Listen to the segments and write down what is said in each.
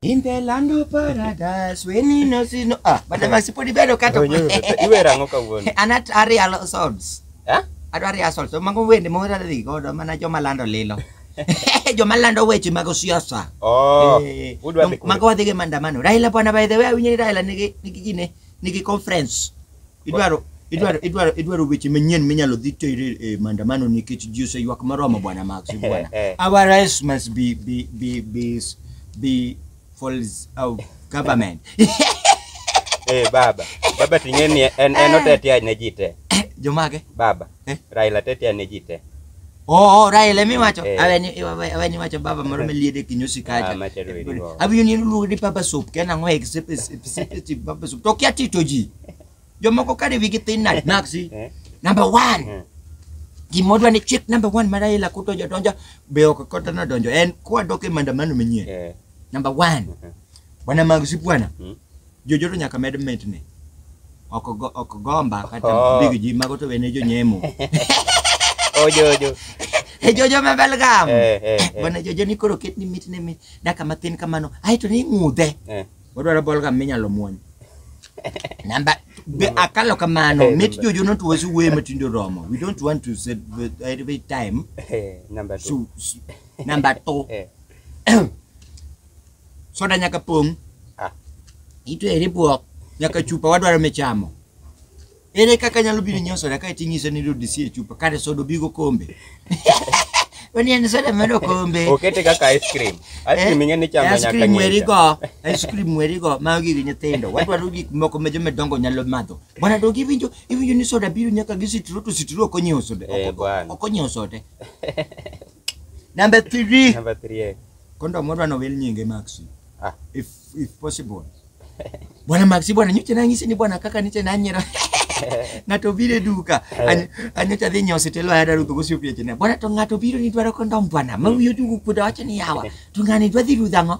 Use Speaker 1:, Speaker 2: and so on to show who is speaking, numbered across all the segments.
Speaker 1: In the land of paradise, when you know, you know. Ah, but I'm supposed to be a cat. Iwe rango kawuono.
Speaker 2: Anat ari alo
Speaker 1: swords. Eh? Adwa ari
Speaker 2: asol. So
Speaker 1: mago wende ma ora dhi godo mana joma lando lilo. joma lando weche mag siasa. Oh. Eh, udwa dhi
Speaker 2: kure. Mago
Speaker 1: wadhi gi maandamano. Raila bwana by the way awinjo ni Raila nigi nigi gine nigi conference. idwaro idwaro idwaro idwaro weche manyien minyalo dhi tere e maandamano nikech ji oseywak maromo bwana Max bwana Eh, eh. our rights must be be be be be falls out government
Speaker 2: Eh, baba baba ting'e ni en en otetea ne ji te jomage
Speaker 1: baba Eh.
Speaker 2: raila tetea ne ji te Oh, oh,
Speaker 1: Rael, emi wacho, Eh. aweni awe- aweni wacho baba moro meliede kinyosi Ah, kacha. machalo eri go. Abinyo ni luongo ni baba soup, kena ngo except except baba soup. To kia tito ji. Jomoko kare wigi thin nade naksi. Eh. Number 1. Eh. Gimodwa ni chick number 1 ma Rael akuto jodonjo be ok kota na donjo. En kwa doke maandamano manyien. Eh, Number 1. Mhm. Bwana Magsi bwana. Mm. Jojoto nyaka med mitni. Ok go- ok gomba kata Oh. big ji mago to wene jonyemo.
Speaker 2: Ojo ojo. E jojo ma
Speaker 1: Belgam. Eh, eh, eh. Bwana jojo ni koro ketni mitni mi daka matin kamano. Ai to ni ng'udhe. Eh. Wadwaro Belgam minyalo muony. Namba be akalo kamano Eh, mit namba- jojo no to wasu we matindo romo. We don't want to set with every time. Eh, number two.
Speaker 2: So, so number 2. Eh.
Speaker 1: soda nyaka pong' Ah. itwere e bwok nyaka chupa wadwaro michamo ere kaka nyalo biro nyiewo soda kae ting'iso ni dodisi e chupa kare soda obigo kombe wani en soda mar okombe Okete kaka ice cream.
Speaker 2: Ice cream ing'e ni chamo nyaka cream ng'inja. werigo
Speaker 1: ice cream werigo mago gigi nyithindo wadwaro gik moko ma joma dongo nyalo madho bwana dog iwinjo iwinjo ni soda biro nyaka gi sitro to sitro ok onyiewo soda Eh, ok- bwana. ok onyiewo soda Number three. Number three. eh. Kondo moro ano wel nyinge Maxi. Ah. If if possible. Bwana Maxi bwana nyote na ngisi ni bwana kaka niche na nyera. Ngato bire duka. Any- Anyocha dhi nyosi telo ya daru tugo siopia chene. Bwana to ngato biro ni dwaro kondo bwana. Mawiyo dugu kuda wacha ni yawa. Tungani dwadhi rudhango.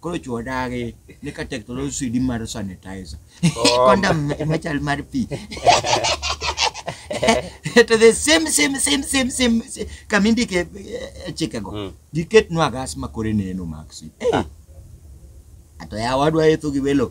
Speaker 1: koro chuo dagi ni ka tek to lo swidi mar sanitizer kondam machal mar pi to the same same same same same same- kama indike eh, chikego Mm. giketnwa gas makore neno maxi Eh, ato yawadwa etho gi welo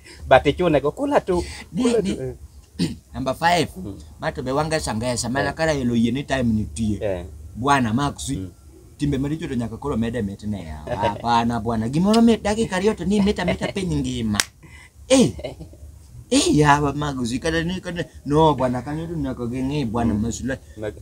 Speaker 2: but ichune go kula tu Ni- kula ni- tu
Speaker 1: eh. Number five, ma to be wanga sangesa mana kara yelo yie ni time nitie. Eh, Bwana Maxi. Mm. Timbe maricho to nyaka koro mede mit ne ya. Hapana bwana, gimoro mit dakika ariyo to ni mita mita piny ngima. Eh. Eh yawa Maxi kata ni kata no bwana kanyo to nyaka ging'i bwana masula. mag-